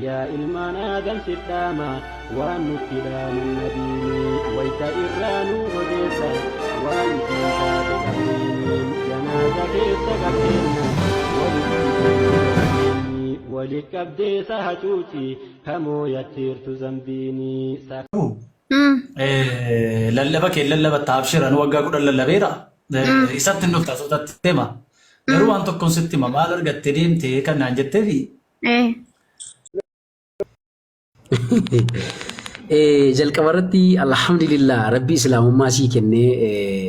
Yaa ilmaan Aadam sif dhaama waan nutti dhaaman nabiini wayta irraa nu odeessa waan isiin taate qabriini janaaza keessa qabeenna walitti deemna jabeenyi wali qabdee sa hacuuci kamoo yatteertu zambiini sa Lallaba kee lallabatta abshir anu waggaa kudhan lallabeera isatti hin dhufta sootatti hima Garuu waan tokkoon sitti hima maal argattee deemte kan naan jetteefi. Eh. Eh, jalqaba irratti alhamdulillah rabbii islaamummaa sii kennee eh,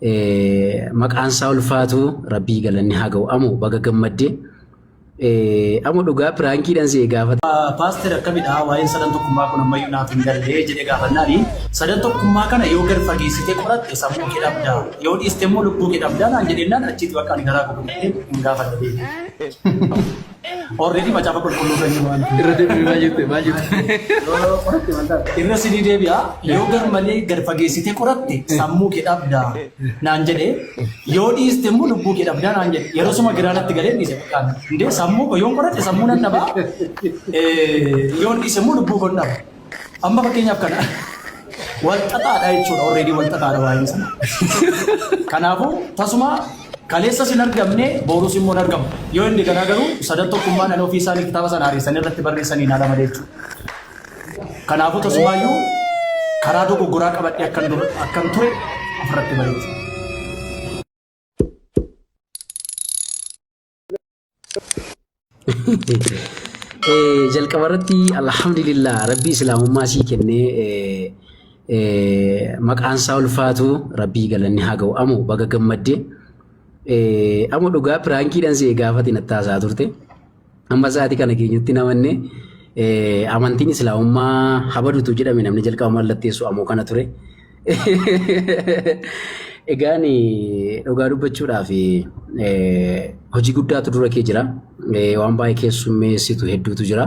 eh, maqaan isaa ulfaatu rabbii galanni haa ga'u amu baga gammadde Amo dhugaa piraankiidhan si gaafata. Paaster akkamidha waa'een sadan tokkummaa kun ammayyuu naaf hin galle jedhee gaafannaani sadan tokkummaa kana yoo gad fageessitee qoratte sammuu kee dhabda yoo dhiiste immoo lubbuu kee dhabda naan jedheennaan achiitu akka ani garaa koo gubatee hin gaafanne beekte. Orreedii macaafa qulqulluu kan jiru waan Irra deebi'ee maal jette maal jette. Irra sidii deebi'a yoo gar malee gad fageessitee qoratte sammuu kee dhabda naan jedhee Yoo dhiiste immoo lubbuu kee dhabdaa naan jedhe. Yerosuma giraa natti galeen dhiise bakkaan. Indee sammuu koo yoon qoradhe sammuu nan dhaba. Yoon dhiise immoo lubbuu koon dhaba. Amma fakkeenyaaf kana wal xaxaadha jechuudha. Already wal xaxaadha waa'een sana. Kanaafuu tasuma kaleessas hin argamne boorus immoo hin argamu. Yoo inni kanaa garuu sadan tokkummaan ani ofii isaanii kitaaba sana haaressanii irratti barreessanii hin haala malee jechuudha. Kanaafuu tasumaayyuu karaa dogoggoraa qabadhee akkan dur- akkan ture ofirratti bareechu. Eh, jalqaba irratti alhamdulillah rabbii islaamummaa sii kennee eh, eh, maqaan isaa ulfaatu rabbii galanni haa ga'u amu baga gammadde Eh, amu dhugaa piraankiidhaan si eegaafati nattaasaa turte Amma sa'aatii kana keenyatti namanne amantiin islaamummaa habadutu jedhame namni jalqaba mallatteessu ammoo kana ture. Egaan dhugaa dubbachuudhaaf hojii guddaatu dura kee jira. Waan baay'ee keessummeessitu hedduutu jira.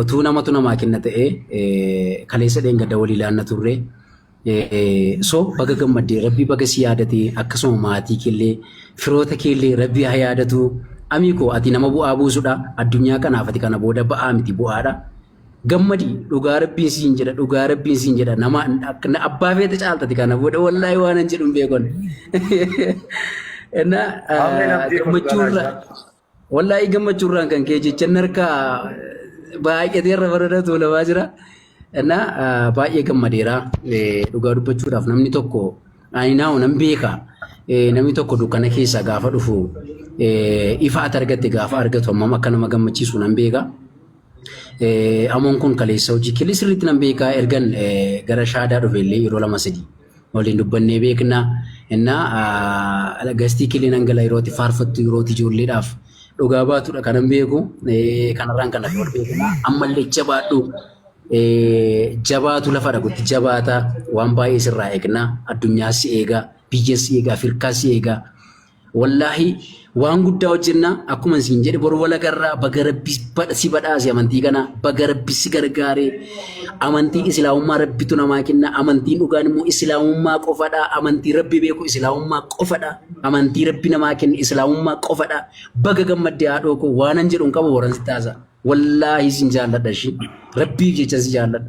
Otuu namatu namaa kenna ta'e kaleessa dheengadda walii laanna turre. So baga gammadde rabbii baga si yaadate akkasuma maatii keellee firoota keellee rabbii haa yaadatu. Amii koo ati nama bu'aa buusudha addunyaa kanaaf ati kana booda ba'aa miti bu'aadha. Gammadi dhugaa rabbiin siin jedha dhugaa rabbiin siin jedha nama abbaa feete caaltati kana booda wallaahi waan hin jedhu hin beekon. Innaa gammachuurra. Wallaahii gammachuu irraan kan kee jecha narka baay'atee irra bareeda tuulamaa jira. Innaa ah, baay'ee gammadeera. Eh, Dhugaa dubbachuudhaaf namni tokko ani naahu nan beeka. Eh, Namni tokko dukkana keessaa gaafa dhufu eh, ifa ati argatte gaafa argatu hammam akka nama gammachiisu nan beeka. Eh, Amoon kun kaleessa hojii keellee sirriitti nan beeka ergan eh, gara shaadaa dhufe illee yeroo lama sadii. waliin dubbannee beekna. Innaa gastii kilii nan gala yerootti faarfattu yerootti ijoolleedhaaf dhugaa baatudha kanan beeku. Kanarraan kan wal beekna. Ammallee jabaadhu. Jabaatu lafa dhagutti jabaata. Waan baay'ee sirraa eegna. Addunyaa si eega. Biyya si eega. Afirkaa si eega. Wallaahi waan guddaa hojjennaa akkuma isin jedhe boru walagarraa baga rabbi badha- si badhaase amantii kana baga rabbi si gargaare amantii islaamummaa rabbitu namaa kenna amantiin dhugaan immoo islaamummaa qofadha amantii rabbi beeku islaamummaa qofadha amantii rabbi namaa kenna islaamummaa qofadha baga gammadde haadhoo koo waanan jedhu hin qabu waran si taasa wallaahi sin jaalladha ishii rabbiif jechan si jaalladha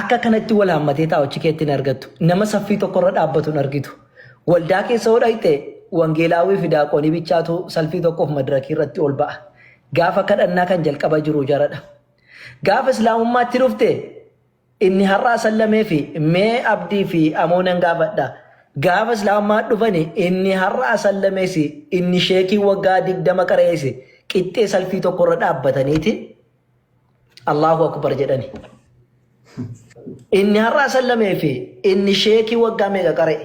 Akka kanatti wal haammatee taa'u achi keetti hin argattu. Nama saffii tokkorra dhaabbatu hin argitu. Waldaa keessa yoo dhaqxe wangeelaawwii fi daaqoonii bichaatu salfii tokkoof madirakii irratti ol ba'a. Gaafa kadhannaa kan jalqaba jiru jaradha. Gaafa islaamummaatti dhufte inni har'aa sallamee fi mee abdii fi amoo nan gaafadha. Gaafa islaamummaa dhufani inni har'aa sallamees inni sheekii waggaa digdama qareesse qixxee salfii tokkorra dhaabbataniiti. Allahu akbar jedhani. Inni har'aa sallamee fi inni sheekii waggaa meeqa qara'e.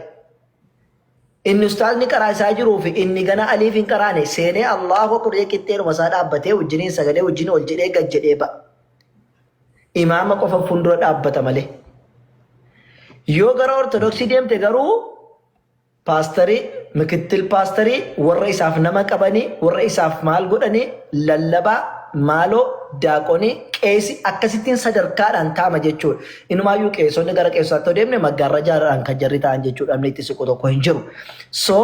Inni ustaazni qaraa isaa jiruu fi inni gana aliif hin qaraane seenee Allahu akbar jedhee qixxeedhuma isaa dhaabbatee wajjiniin sagalee wajjin ol jedhee gad jedhee ba'a. Imaama qofa fuuldura dhaabbata malee. Yoo gara ortodoksii deemte garuu Paastarii, mikittil paastarii, warra isaaf nama qabanii, warra isaaf maal godhanii, lallabaa, maaloo, daaqonii, qeesi, akkasittiin sadarkaadhaan taa'ama jechuudha. Inumaayyuu qeesonni gara qeesotaatti yoo deemne maggaarrajaadhaan kan jarri taa'an jechuudha namni itti siqu tokko hin jiru. So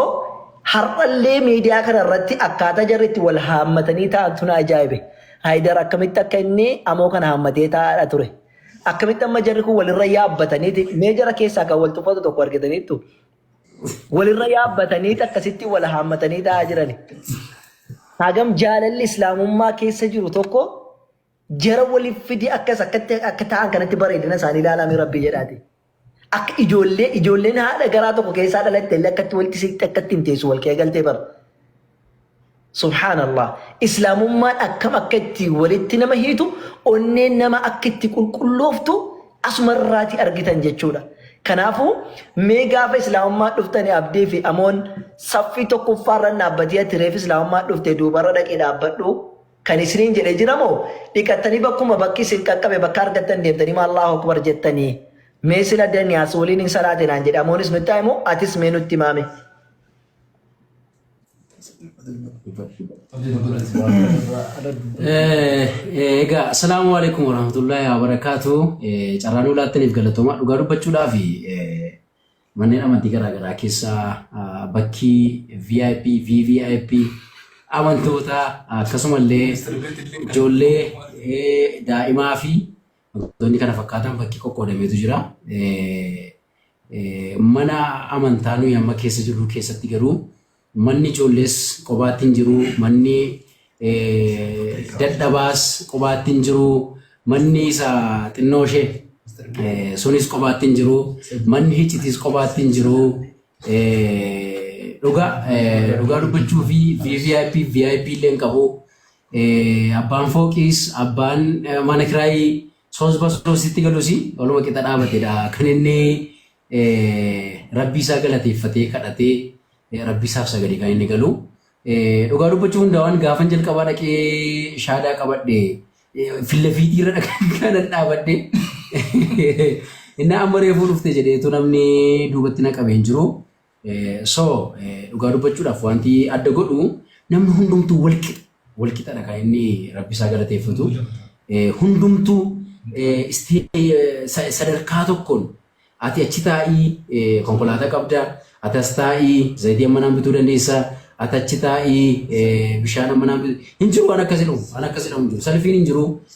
har'allee miidiyaa kana irratti akkaataa jarri itti wal haammatanii taa'antu na ajaa'ibe. Haayidar akkamitti akka inni amoo kana haammatee taa'aadha ture. Akkamitti amma jarri kun walirra yaabbataniiti mee jara keessaa kan wal tuffatu tokko argitaniittu. Walirra yaabbatanii akkasitti wal haammatanii taa'aa jirani. Hagam jaalalli islaamummaa keessa jiru tokko jara waliif fidi akkas akkatti akka ta'an kanatti bareedina isaanii ilaalaa rabbii jedhaati. Akka ijoollee ijoolleen haadha garaa tokko keessaa dhalatte illee akkatti walitti siqxe akkatti hin teessu wal qeegaltee bara. Subhaanallah islaamummaan akkam akka itti walitti nama hiitu onneen nama akka itti qulqullooftu asuma irraati argitan jechuudha. Kanaafuu mee gaafa islaamummaa dhuftani abdii fi amoon saffii tokkoffaarra dhaabbatee ati reef islaamummaa dhufte duubarra dhaqee dhaabbadhu kan isiniin jedhe jira moo dhiqattanii bakkuma bakki isin qaqqabe bakka argattan deemtanii maa Allahu akbar jettanii mee sila daniyaas waliin hin salaate naan jedhe amoonis nutti himu atis mee nutti maame. Egaa asalaamu alaikum warahmatullahi wabarakatuh. Carraa nuu laattaniif galatoomaa dhugaa dubbachuudhaaf manneen amantii garaagaraa keessaa ah, bakki VIP, VVIP amantoota akkasumallee ijoollee eh, daa'imaa fi Wantoonni kana fakkaatan fakkii qoqqoodameetu jira. Mana amantaa nuyi amma keessa jirru keessatti garuu manni ijoollees qobaatti hin jiru, manni dadhabaas qobaatti hin jiru, manni isa xinnoo ishee sunis qobaatti hin jiru, manni hiccitis qobaatti hin jiru. Dhugaa dhugaa dubbachuu fi VIP VIP illee hin qabu. Eh, Abbaan fooqiis abbaan eh, mana kiraayii soosba soositti galusi waluma qixa dhaabatedha. Kan inni eh, rabbii isaa galateeffatee kadhatee eh, rabbii isaaf sagade kan inni galu. Eh, Dhugaa dubbachuu hundaawaan gaafan jalqabaa dhaqee shaadaa qabadhe eh, fillafiitii irra dhaqee kanan dhaabadhe. Inni amma reefuu dhufte jedheetu namni duubatti na qabee hin jiru. So dhugaa dubbachuudhaaf wanti adda godhu namni hundumtuu walqixa. Walqixadha kan inni rabbi isaa galateeffatu. Hundumtuu sadarkaa tokkoon ati achi taa'ii konkolaataa qabda, ati as taa'ii zayitii ammanaan bituu dandeessa, ati achi taa'ii bishaan ammanaan bituu hin jiru waan akkasii dhufu, waan akkasii dhamu hin jiru. Salfiin hin jiru,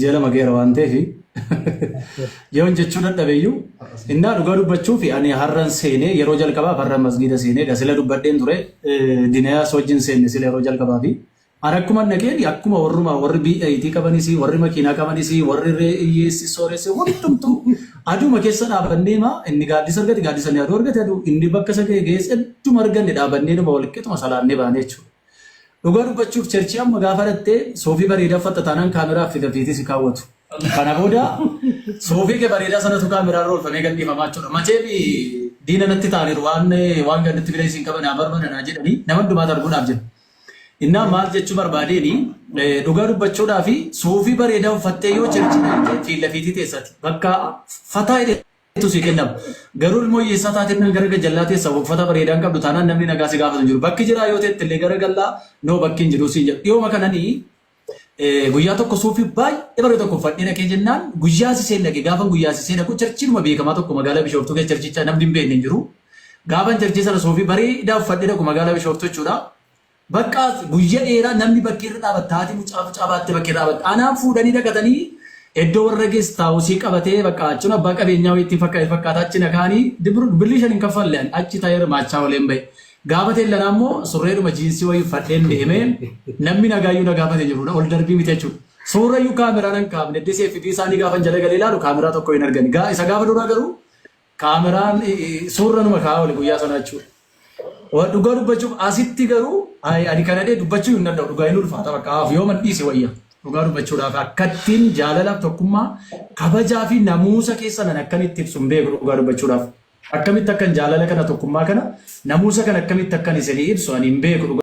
ji'a lama geera waan ta'eef yoon jechuu dadhabe iyyuu innaa dhugaa dubbachuuf ani har'an seenee yeroo jalqabaaf har'an masgiida seenee dha sila dubbadheen ture eh, dinayaas wajjin seenne sila yeroo jalqabaa fi ani akkuma naqeen akkuma warruma warri BIT qabanis warri makiinaa qabanis warri reeyyeessi sooressi hundumtuu aduuma keessa dhaabannee maa inni gaaddisa argate gaaddisa ni aduu argate aduu inni bakka isa ga'e ga'es hedduma arganne dhaabannee dhuma walqixuma salaannee baanee jechuudha. Dhugaa dubbachuuf cherchii amma gaafa dhatte soofii bareedaa uffatta taanaan kaameraa affeeta feetee si kaawwatu. Kana booda soofii kee bareedaa sanatu kaameraa irra oolfamee gadhiifamaa jechuudha. Macheem diina natti taaniiru waan waan gaditti fidee isin qaba naa barbada naa jedhanii nama hundumaatu arguudhaaf jira. Innaa maal jechuu barbaadeeni dhugaa dubbachuudhaa fi soofii bareedaa uffattee yoo cherchii dhatte fiilla fiitii teessati. Bakka fataa tu sii kennama. Garuu ilmoo hiyyeessaa taatee kan gara gajjallaa teessa uffata bareedaa hin qabdu taanaan namni nagaa si gaafatu hin jiru. Bakki jiraa yoo teette illee gara gallaa noo bakki hin jiru siin jedhu. Dhiyooma kananii eh, guyyaa tokko suufii baay'ee bareedu tokko uffadhee dhaqee jennaan guyyaa siseen dhaqe gaafan guyyaa sisee dhaqu charchiinuma beekamaa tokko magaalaa Bishooftuu keessa charchicha namni hin beekne hin jiru. Gaafan charchii sana suufii bareedaa uffadhee dhaqu magaalaa Bishooftuu jechuudha. Baqqaas guyya dheeraa namni bakkee irra dhaabatta haati mucaa mucaa baattee bakkee dhaabatta anaan fuudhanii dhaqatanii eddoo warra gestaawusii qabatee baqqaa achun abbaa qabeenyaa wayii ittiin fakkate fakkaata achi na kaanii dibru birrii shan hin kaffalle ani achi ta'ee hirmaachaa oleen ba'e gaafa teellanaa immoo surreedhuma jiinsii wayii uffadheen deemee namni nagaa iyyuu na gaafate jiru na ol darbii miti jechuudha suurra iyyuu kaameraa nan kaafne disi FB isaanii gaafan jala galee ilaalu kaameraa tokko hin argani Gaa- isa gaafa duraa garuu Kaameraan suurra numa ka'aa oli guyyaa sanaa jechuudha. Wa- Dhugaa dubbachuuf asitti garuu ay, ani kana dhee dubbachuu hin danda'u dhugaa hin ulfaata bakka haaf yoo man dhiise wayya. Dhugaa dubbachuudhaaf akkattiin jaalala tokkummaa kabajaa fi namuusa keessa nan akkamitti ibsu hin beeku dhugaa dubbachuudhaaf. Akkamitti akkan jaalala kana tokkummaa kana namuusa kana akkamitti akkan isinii ibsu ani hin beeku dhugaa.